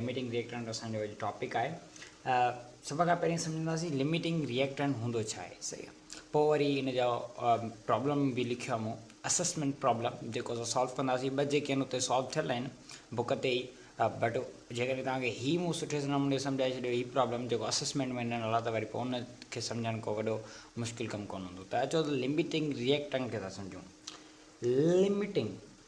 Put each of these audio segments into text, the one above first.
Limiting reactant اسان جو اڄ ٽاپڪ آهي. سڀ کان پهرين سمجهنداسين لميٽنگ ريئڪٽنٽ هوندو ڇا آهي صحيح آهي پوء وري ان جو پرابلم به لکيو آهي مون اسسمينٽ پرابلم جيڪو اسان سالو ڪنداسين ٻه جيڪي آهن اتي سالو ٿيل آهن بوڪ تي ئي بٽ جيڪڏهن توهان کي هي مون سٺي نموني سمجهائي ڇڏيو هي پرابلم جيڪو اسسمينٽ ۾ ڏنل آهي ته وري پوء ان کي سمجهڻ ڪو وڏو مشڪل ڪم ڪونه هوندو ته اچو ته لميٽنگ ريئڪٽنٽ کي ٿا سمجهون لميٽنگ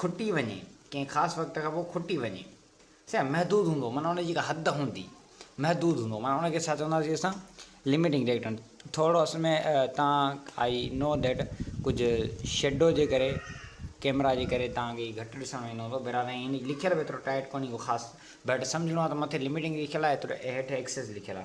کٽي وڃي، ڪنهن خاص وقت کان پوء کٽي وڃي. سائين محدود هوندو معنيٰ ان جي ڪا حد هوندي، محدود هوندو معنيٰ ان کي ڇا چونداسين اسان Limiting Reactant ٿورڙو اصل ۾ تان آئي نو ڌيٽ ڪجهه شيڊو جي ڪري ڪيمرا جي ڪري تان کي گهٽ ڏسڻ ۾ ايندو هوندو بهرحال ائين هن لکيل به ايترو ٽائيٽ ڪونهي ڪو خاص بهٽ سمجهڻو آ ته مٿي Limiting لکيل آ ايترو هيٺ Excess لکيل آ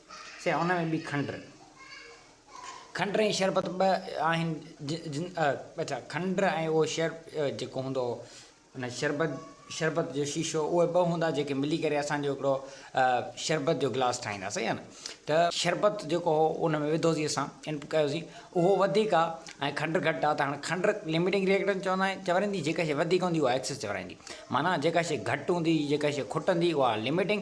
سي ان ۾ به کنڊ. کنڊ ۽ شربت ٻه آهن جن اڇا کنڊ ۽ اهو شر جيڪو هوندو ان شربت شربت جو شيشو اهي ٻه هوندا جيڪي ملي ڪري اسان جو هڪڙو شربت جو گلاس ٺاهيندا صحيح آ نه ته شربت جيڪو هو ان ۾ وڌوسين اسان ان ڪيوسين اهو وڌيڪ آ ۽ کنڊ گهٽ آ ته هاڻي کنڊ لميٽنگ ريئڪٽنس چوندا آهن چورائيندي جيڪا شي وڌيڪ هوندي اها ايڪسس چورائيندي معنيٰ جيڪا شي گهٽ هوندي جيڪا شي کٽندي اها لميٽنگ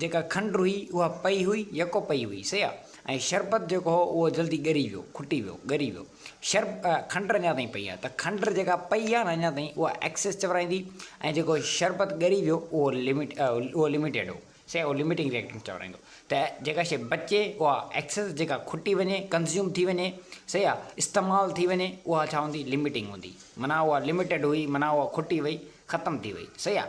جيڪا کنڊ هئي، اها پئي هئي، يڪو پئي هئي، سيء ۽ شربت جيڪو هو، اهو جلدي ڳري ويو، کٽي ويو، ڳري ويو. شرب، کنڊ اڃا تائين پئي آهي، ته کنڊ جيڪا پئي آهي نه اڃا تائين، اها ايڪسس چورائيندي ۽ جيڪو شربت ڳري ويو، اهو لمٽ، اهو لمٽيڊ هو، سيء اهو لمٽنگ ريئڪٽنٽ چورائيندو. ته جيڪا شيء بچي، اها ايڪسس، جيڪا کٽي وڃي، ڪنزيوم ٿي وڃي، سيء استعمال ٿي وڃي، اها ڇا هوندي، لمٽنگ هوندي. معنيٰ اها لمٽيڊ هئي، معنيٰ اها کٽي وئي، ختم ٿي وئي، سيء.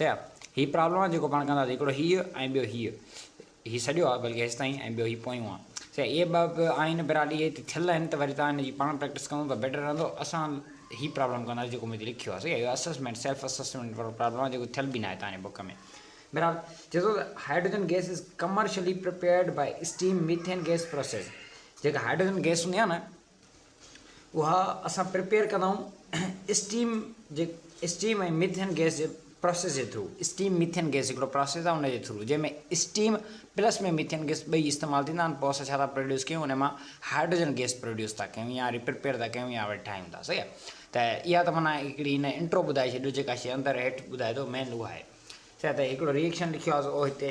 سياح، هي پرابلم آهي جيڪو پاڻ ڪنداسين، هڪڙو هيء ۽ ٻيو هيء. هي سڄو آهي بلڪه هيستائين ۽ ٻيو هي پويون آهي. سياح، اهي ٻه به آهن براڊي هيء ته ٿيل آهن ته وري توهان هن جي پاڻ پريڪٽس ڪندو ته بيٽر رهندو. اسان هي پرابلم ڪنداسين جيڪو مون هتي لکيو آهي. سياح، اهو اسسمينٽ، سيلف اسسمينٽ وارو پرابلم آهي جيڪو ٿيل به ناهي توهان جي بوڪ ۾. بهرحال، چئي ٿو ته hydrogen gas is commercially prepared by steam methane gas process. جيڪا هائڊروجن گئس هوندي آهي نه، اها اسان پريپيئر ڪندائون اسٽيم جي اسٽيم ۽ ميٿين گئس جي پراسيس جي ٿرو اسٽيم ميٿين گئس هڪڙو پراسيس آهي ان جي ٿرو جنهن ۾ اسٽيم پلس ۾ ميٿين گئس ٻئي استعمال ٿيندا آهن پوء اسان ڇا ٿا پروڊيوس ڪيون ان مان هائڊروجن گئس پروڊيوس ٿا ڪيون يا ري پريپيئر ٿا ڪيون يا وري ٺاهيون ٿا صحيح آهي ته اها ته معنيٰ هڪڙي هن انٽرو ٻڌائي ڇڏيو جيڪا شي اندر هيٺ ٻڌائي ٿو مين اها آهي صحيح ته هڪڙو ريئيڪشن لکيو آهي او هتي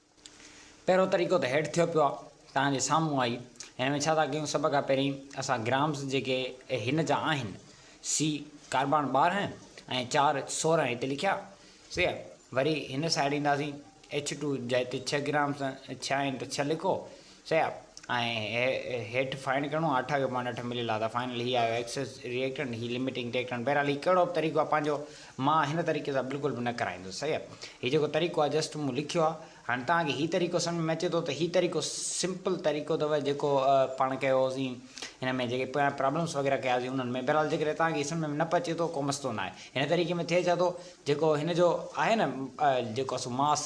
پهريون طريقو ته هيٺ ٿيو پيو آهي، توهان جي سامهون آهي. هن ۾ ڇا ٿا ڪيون، سڀ کان پهرين اسان گرامز جيڪي هن جا آهن، سي ڪاربان ٻارهن ۽ چار سورهن هتي لکيا، سي آهي. وري هن سائيڊ اينداسين، ايڇ ٽو جي هتي ڇهه گرامز ڇهه آهن ته ڇهه لکو، سياپ ۽ هيٺ فائنڊ ڪرڻو آهي اٺا کي پوائنٽ اٺ مليل آهي ته فائنل هي آهي ايڪسس ريئڪٽنٽ هي لميٽنگ ريئڪٽنٽ بهرحال هي ڪهڙو به طريقو آهي پنهنجو مان هن طريقي سان بلڪل به نه ڪرائيندس سياپ هي جيڪو طريقو آهي جسٽ مون لکيو آهي هاڻي توهان کي هي طريقو سمجهه ۾ اچي ٿو ته هي طريقو سمپل طريقو اٿو جيڪو پاڻ ڪيو هوسين هن ۾ جيڪي پويان پرابلمس وغيره ڪيا هوسين انهن ۾ بهرحال جيڪڏهن توهان کي هي سمجهه ۾ نه به اچي ٿو ڪو مسئلو نه آهي هن طريقي ۾ ٿئي ڇا ٿو جيڪو هن جو آهي نه جيڪو اسو ماس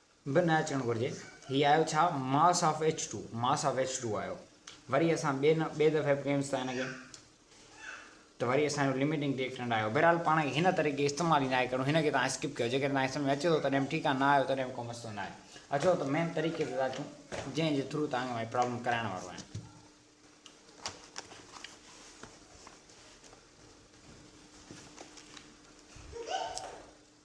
به نه اچڻ گهرجي. هي آيو ڇا؟ Mass of H two, Mass of H two، آيو. وري اسان ٻئي نه ٻئي دفعي به ڪيونس ٿا هن کي ته وري اسان جو لميٽنگ ريئڪٽنٽ آيو. بهرحال پاڻ کي هن طريقي استعمال ئي ناهي ڪرڻو. هن کي توهان اسڪپ ڪيو. جيڪڏهن توهان کي سمجهه ۾ اچي ٿو تڏهن به ٺيڪ آهي، نه آيو تڏهن به ڪو مسئلو ناهي. اچو ته مين طريقي تي ٿا اچون جنهن جي ٿرو توهان کي مان هي پرابلم ڪرائڻ وارو آهيان.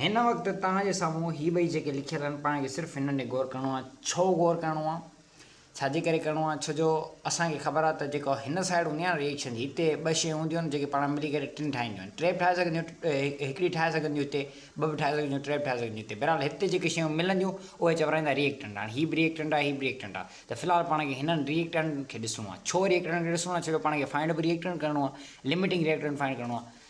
هن وقت توهان جي سامهون هي ٻئي جيڪي لکيل آهن پاڻ کي صرف هنن تي غور ڪرڻو آهي. ڇو غور ڪرڻو آهي؟ ڇا جي ڪري ڪرڻو آهي؟ ڇو جو اسان کي خبر آهي ته جيڪا هن سائيڊ هوندي آهي نه ريئيڪشن جي هتي ٻه شيون هونديون آهن جيڪي پاڻ ملي ڪري ٽن ٺاهينديون آهن ٽي به ٺاهي سگهنديون هڪڙي ٺاهي سگهنديون هتي ٻه به ٺاهي سگهنديون ٽي به ٺاهي سگهنديون هتي بهرحال هتي جيڪي شيون ملنديون اهي چورائيندا ريئيڪٽنٽ هاڻي هي به ريئيڪٽنٽ آهي هي به ريئيڪٽنٽ آهي ته في الحال پاڻ کي هنن ريئيڪٽنٽن کي ڏسڻو آهي ڇو ريئيڪٽنٽن کي ڏسڻو آهي ڇو جو پاڻ کي فائنڊ به ريئيڪٽنٽ ڪرڻو آهي لمٽنگ ريئيڪٽنٽ فائنڊ ڪرڻو آهي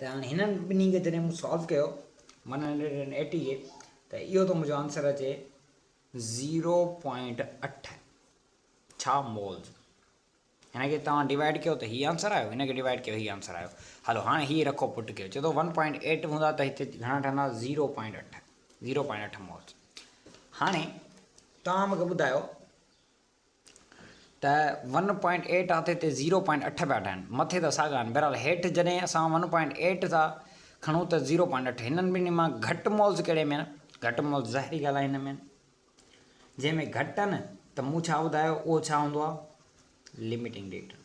ته هاڻي هنن ٻنهي کي جڏهن مون سالو ڪيو ون هنڊريڊ اينڊ ايٽي کي ته اهو ٿو منهنجو آنسر اچي زيرو پوائنٽ اٺ ڇا مولز هن کي توهان ڊيوائڊ ڪيو ته هي آنسر آيو هن کي ڊيوائڊ ڪيو هي آنسر آيو هلو هاڻي هي رکو پٽ ڪيو چي ٿو ون پوائنٽ ايٽ هوندا ته هتي گهڻا ٺهندا زيرو پوائنٽ اٺ زيرو پوائنٽ اٺ مولز هاڻي توهان مونکي ٻڌايو ته ون پوائنٽ ايٽ آهي ته هتي زيرو پوائنٽ اٺ پيا ٺهن مٿي ته ساڳا آهن بهرحال هيٺ جڏهن اسان ون پوائنٽ ايٽ ٿا کڻون ته زيرو پوائنٽ اٺ هنن ٻنهي مان گهٽ مولز ڪهڙي ۾ آهن گهٽ مولز ظاهري ڳالهه آهي هن ۾ جنهن ۾ گهٽ آهن ته مون ڇا ٻڌايو اهو ڇا هوندو آهي لمٽنگ ڊيٽا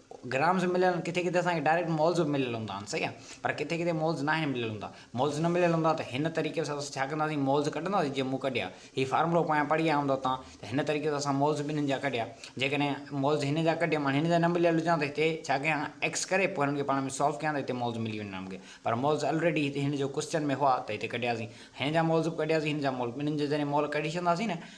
گرامز به مليل آھن ڪٿي ڪٿي اسان کي ڊائريڪٽ مالز به مليل ھوندا آھن صحيح آ پر ڪٿي ڪٿي مالز ناھن مليل ھوندا مالز نه مليل ھوندا ته ھن طريقي سان اسان ڇا ڪنداسين مالز ڪڍنداسين جيئن مون ڪڍيا ھي فارمولو پويان پڙھي آيا ھوندو تان ته ھن طريقي سان اسان مالز ٻنھين جا ڪڍيا جيڪڏھن مالز ھن جا ڪڍيم ھن جا نه مليل ھجان ته ھتي ڇا ڪيان ايڪس ڪري پوء ھنن کي پاڻ ۾ سالو ڪيان ته ھتي مالز ملي وڃن ھا مون کي پر مالز الريڊي ھتي ھن جو ڪوسچن ۾ ھئا ته ھتي ڪڍياسين ھن جا مالز به ڪڍياسين ھن جا مالز ٻنھين جا جڏھن مال ڪڍي ڇڏنداسين نه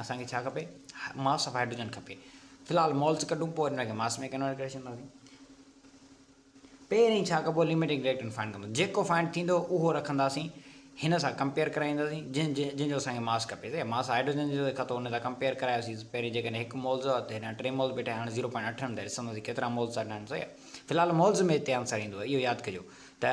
اسان کي ڇا کپي ماس آف هائيڊروجن کپي في الحال مولز ڪڍون پوء ان کي ماس ۾ ڪنورٽ ڪري ڇڏنداسين پهرين ڇا ڪبو لميٽنگ ريئيڪٽنٽ فائنڊ ڪندو جيڪو فائنڊ ٿيندو اهو رکنداسين هن سان ڪمپيئر ڪرائينداسين جن جن جو اسان کي ماس کپي ته ماس هائيڊروجن جو کتو ان سان ڪمپيئر ڪرايوسين پهرين جيڪڏهن هڪ مولز هو ته هن ٽي مولز بيٺا هاڻي زيرو پوائنٽ اٺ هن ته ڏسنداسين ڪيترا مولز آهن في الحال مولز ۾ هتي آنسر ايندو اهو ياد ڪجو ته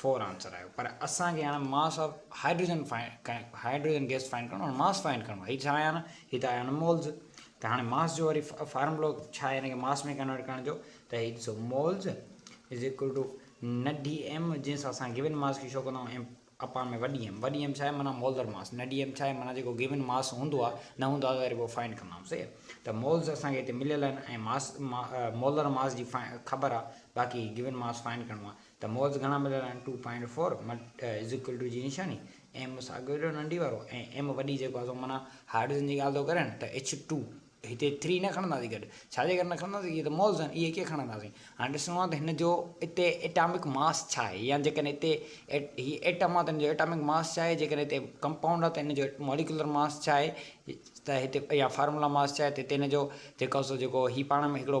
فور آنسر آيو پر اسان کي هاڻ mass of hydrogen hydrogen gas find ڪرڻو آهي ماس فائنڊ ڪرڻو آهي هي ڇا آيان هي ته آيان مولز ته هاڻي ماس جو وري فارمولو ڇا آهي هن کي ماس ۾ ڪنورٽ ڪرڻ جو ته هي ڏسو مولز از ايڪول ٽو نه ڊي ايم جنهن سان اسان گيون ماس کي شو ڪندا ايم اپان ۾ وڏي ايم وڏي ايم ڇا آهي معنی مولدر ماس نه ڊي ايم ڇا آهي معنی جيڪو گيون ماس هوندو آهي نه هوندو آهي وري پوء فائنڈ ڪندا آهيون صحيح ته مولز اسان کي هتي مليل آهن ۽ ماس مولدر ماس جي خبر آهي باقي گيون ماس فائنڈ ڪرڻو آهي ته موز گهڻا مليل آهن ٽو پوائنٽ فور مٽ از ايڪول ٽو جي نشاني ايم ساڳيو اهڙو ننڍي وارو ۽ ايم وڏي جيڪو آهي سو معنيٰ هارڊزن جي ڳالهه ٿو ڪرين ته ايڇ ٽو هتي ٿري نه کڻنداسين گڏ ڇا جي ڪري نه کڻنداسين هي ته موز آهن اهي ڪيئن کڻنداسين هاڻي ڏسڻو آهي ته هن جو اتي ايٽامڪ ماس ڇا آهي يا جيڪڏهن اتي هي ايٽم آهي ته هن جو ايٽامڪ ماس ڇا آهي جيڪڏهن هتي ڪمپائونڊ آهي ته هن جو موليڪيولر ماس ڇا آهي ته هتي يا فارمولا ماس ڇا آهي ته هتي هن جو جيڪو سو جيڪو هي پاڻ ۾ هڪڙو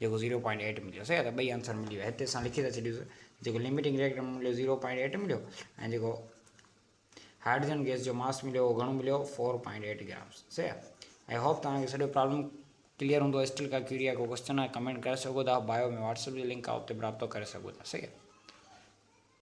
جيڪو زيرو پوائنٽ ايٽ مليو صحيح آ ته ٻئي آنسر ملي ويا هتي اسان لکي ٿا ڇڏيوس جيڪو لميٽنگ ريئڪٽر ۾ مليو زيرو پوائنٽ ايٽ مليو ۽ جيڪو هائڊروجن گيس جو ماس مليو اهو گهڻو مليو فور پوائنٽ ايٽ گرامس صحيح آ آئي هوپ توهان کي سڄو پرابلم ڪليئر هوندو اسٽل ڪا ڪيڙي آ ڪو ڪوشچن آ ڪمينٽ ڪري سگهو ٿا بايو ۾ واٽس اپ جو لنڪ آ اتي به رابطو ڪري سگهو ٿا صحيح آ